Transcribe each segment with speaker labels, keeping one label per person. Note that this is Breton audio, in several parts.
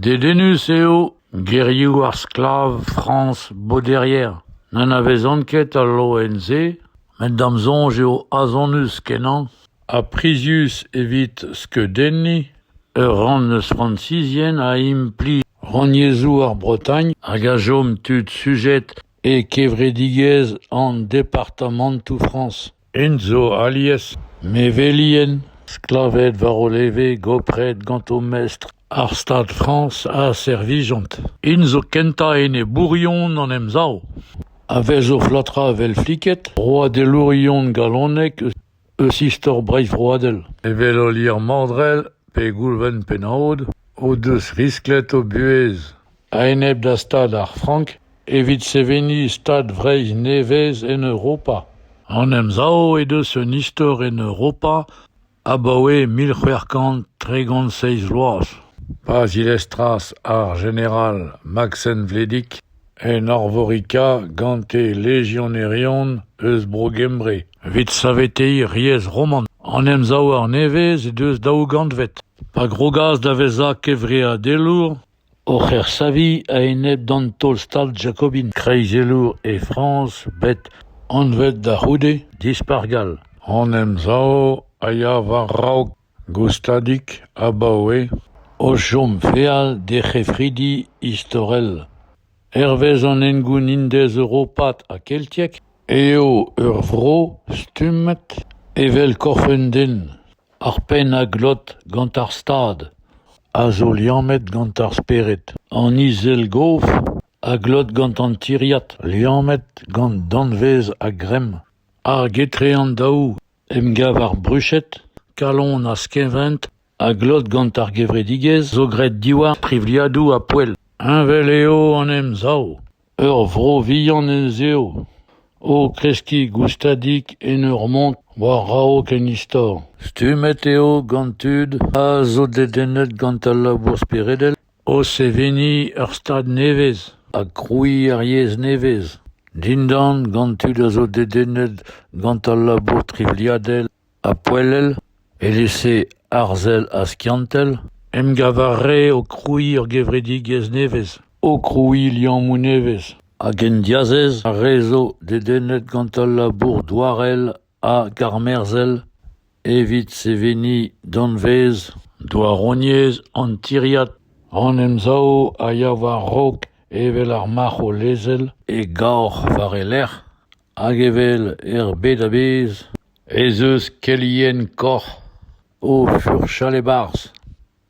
Speaker 1: Dedennus eo gerioù ar sklav Frañs Bauderière n'anavezan ket al loen-se met da'm soñj eo azonnus-kenañ ha prizius evit skeudenniñ ur rann eus frañsizien a implij rannyezhoù ar Bretagne hag a chom tud sujet e kevredigezh an departamantoù Frañs. Int zo alies mevelien sklaved war o leve gopret gant o mestr ar Stad Frañs a servijont. Int zo kentañ enebourion an Emsav. A vez o flatrañ evel fliked broadelourion galonek eus istor Breizh vroadel, evel Olier Mandrell pe Goulven Pennaod o deus risklet o buhez. a-enep da Stad ar Frank evit seveniñ Stad Vreizh nevez en Europa. An Emsav he deus un istor en Europa abaoe mil c'hwec'h kant tregont seizh vloaz, pa zilestras ar jeneral Maksen Vledig en Arvorika gant e lejionerion eus Bro-Gembre evit saveteiñ riez roman. An Emsav arnevez he deus daou gantved, pa grogas da vezañ kevreadelour oc'h ersaviñ a-enep d'an taol-Stad jakobin kreizelour e Frañs bet anvet da c'houde Dispac'h gall. An emsav a ya war-raok goustadik abaoe o chom feal d'he c'hefridi istorel. Hervez an hengoun indez-europat ha keltiek eo ur vro stummet evel korf un den. Ar pennañ glot gant ar Stad, a zo liammet gant ar spered, an izel-gof a glot gant an tiriad liammet gant danvez a-gremm. Ar getreandaoù emgav ar bruched, kalon ha skevent a glot gant ar gevredigezh zo graet diwar privliadoù ha poell. Heñvel eo an Emsav. Ur vro vihan ez eo, o kreskiñ goustadik en ur mont war-raok en istor. Stummet eo gant tud a zo dedennet gant al labour speredel o seveniñ ur stad nevez ha krouiñ ar yezh nevez, dindan gant tud a zo dedennet gant al labour trivliadel. ha poellel, evel-se arzel ha skiantel, emgav a rae o krouiñ ur gevredigezh nevez, o krouiñ liammoù nevez, hag en diazez ar re zo dedennet gant al labour douarel ha karmerzhel evit seveniñ danvez douaroniezh an tiriad. An emsav a ya war-raok evel ar marc'h o lezel e gaoc'h war e lerc'h. Hag evel er bed a-bezh ez eus kelien koc'h o furchal e-barzh,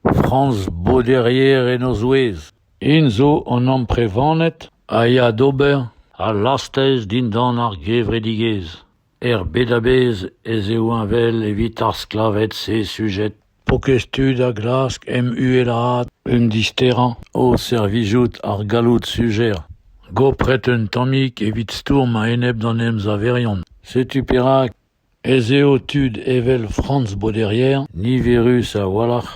Speaker 1: Franz Bauderier en o zouez. Int zo an amprevaned a ya d'ober al lastez dindan ar gevredigezh. Er bed a-bezh ez eo heñvel evit ar sklaved-se sujet. Pokez tud a glask em uhelaat un disterañ o servijout ar galloud sujer. Gopret un tammig evit stourm a-enep d'an emsaverion. Setu perak ez eo tud evel Franz Boderier niverus a-walc'h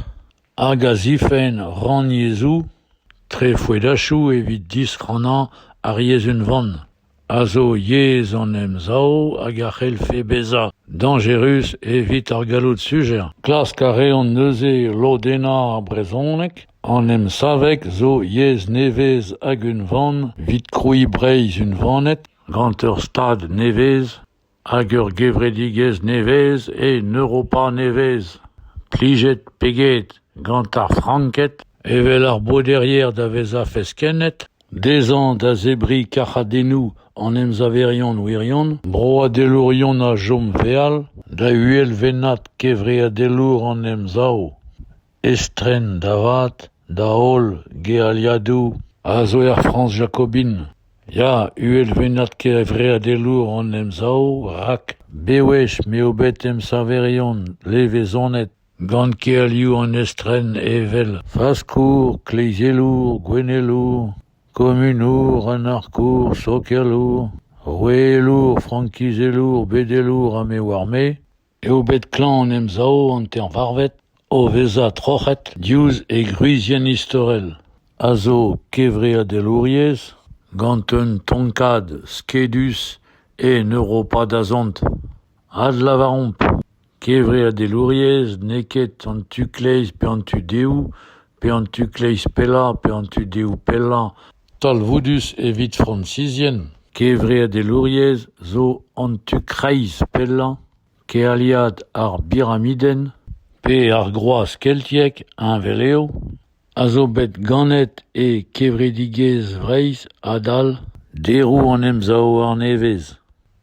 Speaker 1: hag a zifenn rannyezhoù, trefoedachoù evit disrannañ ar yezh unvan. a zo yezh an Emsav hag a c'hellfe bezañ dañjerus evit ar galloud sujer. Klask a reont neuze lodennañ ar brezhoneg. An emsaveg zo yezh nevez hag unvan evit krouiñ Breizh unvanet gant ur Stad nevez. Hag ur gevredigezh nevez en Europa nevez, plijet pe get gant ar Franked evel ar Boderier da vezañ feskennet, dezhañ da zebriñ karchadennoù an emsaverion wirion, broadelourion a chom feal, da uhelvennad kevreadelour an Emsav. estren da vat da holl gealiadoù a zo er Frañs jakobin. Ya, uhelvennad kevreadelour hon emsav rak bewech m'eo bet emsañverion levezonet gant kealioù an estren evel faskour, kleizelour, gouennelour, komunour, anarkour, sokialour, roueelour, frankizelour, bedelour ha me oar-me, eo bet klañv an emsav hanter-varvet o vezañ troc'het diouzh e gwrizienn istorel, a zo kevreadelouriezh gant un tonkad skedus en Europa dazont. Adlavaromp, kevreadelouriezh n'eo ket an tu-kleiz pe an tu-dehoù, pe an tu-kleiz pellañ pe an tu-dehoù pellañ. Talvoudus evit fransizien, kevreadelouriezh zo an tu kreiz pellañ kealiad ar biramidenn pe ar groaz keltiek heñvel eo, a zo bet ganet e kevredigezh Vreizh adal deroù an emsav arnevez.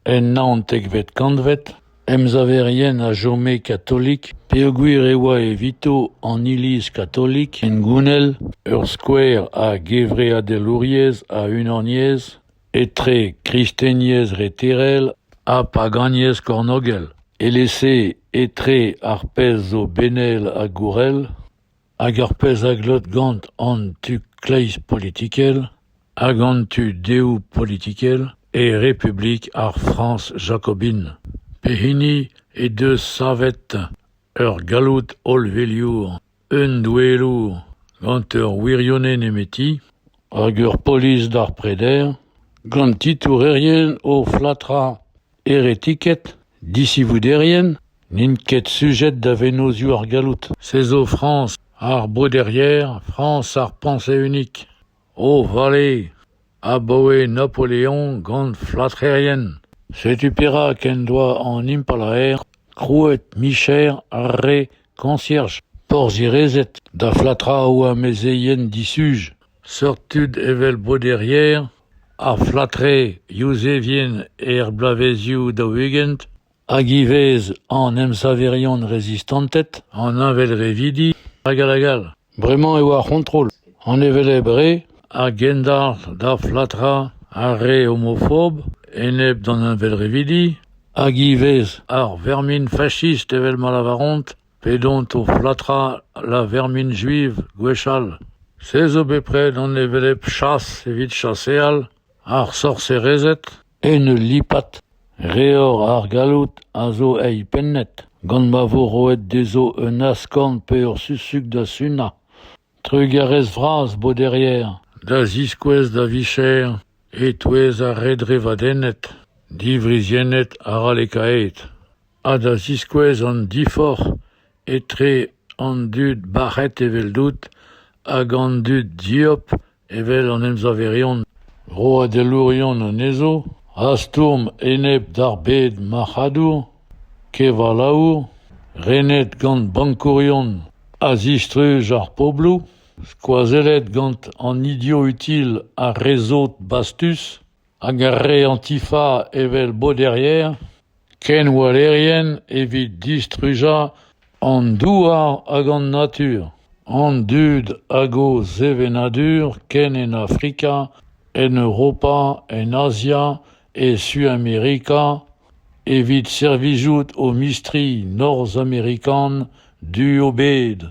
Speaker 1: En naontekvet kantved, emsaverien a chome katolik peogwir e oa evito an Iliz katolik hengounel ur skouer a gevreadelouriezh a unaniezh etre kristeniezh reterel ha paganiezh kornogel, evel-se etre ar pezh zo benel ha gourel. Hag ar pezh a glot gant an tu kleiz politikel hag an tu dehoù politikel e Republik ar Frañs jakobin pehini he deus savet ur galloud hollveliour, un doueelour gant ur wirionez nemeti hag ur polis d'ar preder gant titourerien o flatrañ. Heretiket, disivoderien n'int ket sujet da vennozioù ar galloud. Se zo Frañs ar breuder-yer, Frañs ar Pañs-Eeunik. O vale! Abaoe Napoleon gant flatrerien. Setu perak en doa an impalaer krouet micher ar re koñsierj, porzhierezed da flatrañ o amezeien disuj. Seurt tud evel breuder-yer, ar Flatrais yuzevien er bloavezioù daou-ugent, hag ivez an emsaverion rezistanted, an heñvelrevidi, hag all hag all. Bremañ eo ar c'hontrol, an hevelep re a gendalc'h d'ar Flatras ar re homofob enep d'an heñvelrevidi, hag ivez ar vermin fachist evel ma lavaront, P'edont o flatrañ lavermin juiv gwechall, se zo bepred an hevelep chas evit chaseal ar sorserezed en ul lipad. Reor ar galloud a zo eilpennet gant ma vo roet dezho un askorn pe ur susug da sunañ. Trugarez vras, Boderier, da ziskouez da vicher e-touez ar re drevadennet, diwriziennet arallekaet, ha da ziskouez an diforc'h etre an dud bac'het eveldout hag an dud dieub Evel an emsaverion roadelourion anezho a stourm enep d'ar bed marc'hadour, kevalaour, renet gant bankourion a zistruj ar pobloù, skoazellet gant an idioù-util ar re sot bastus. hag ar re antifa evel boderien, kenwellerien evit distrujañ an douar hag an natur, an dud hag o sevenadur ken en Afrika, en Europa, en Azia, e Suamerika, evit servijout o mistri norzhamerikan du o bed.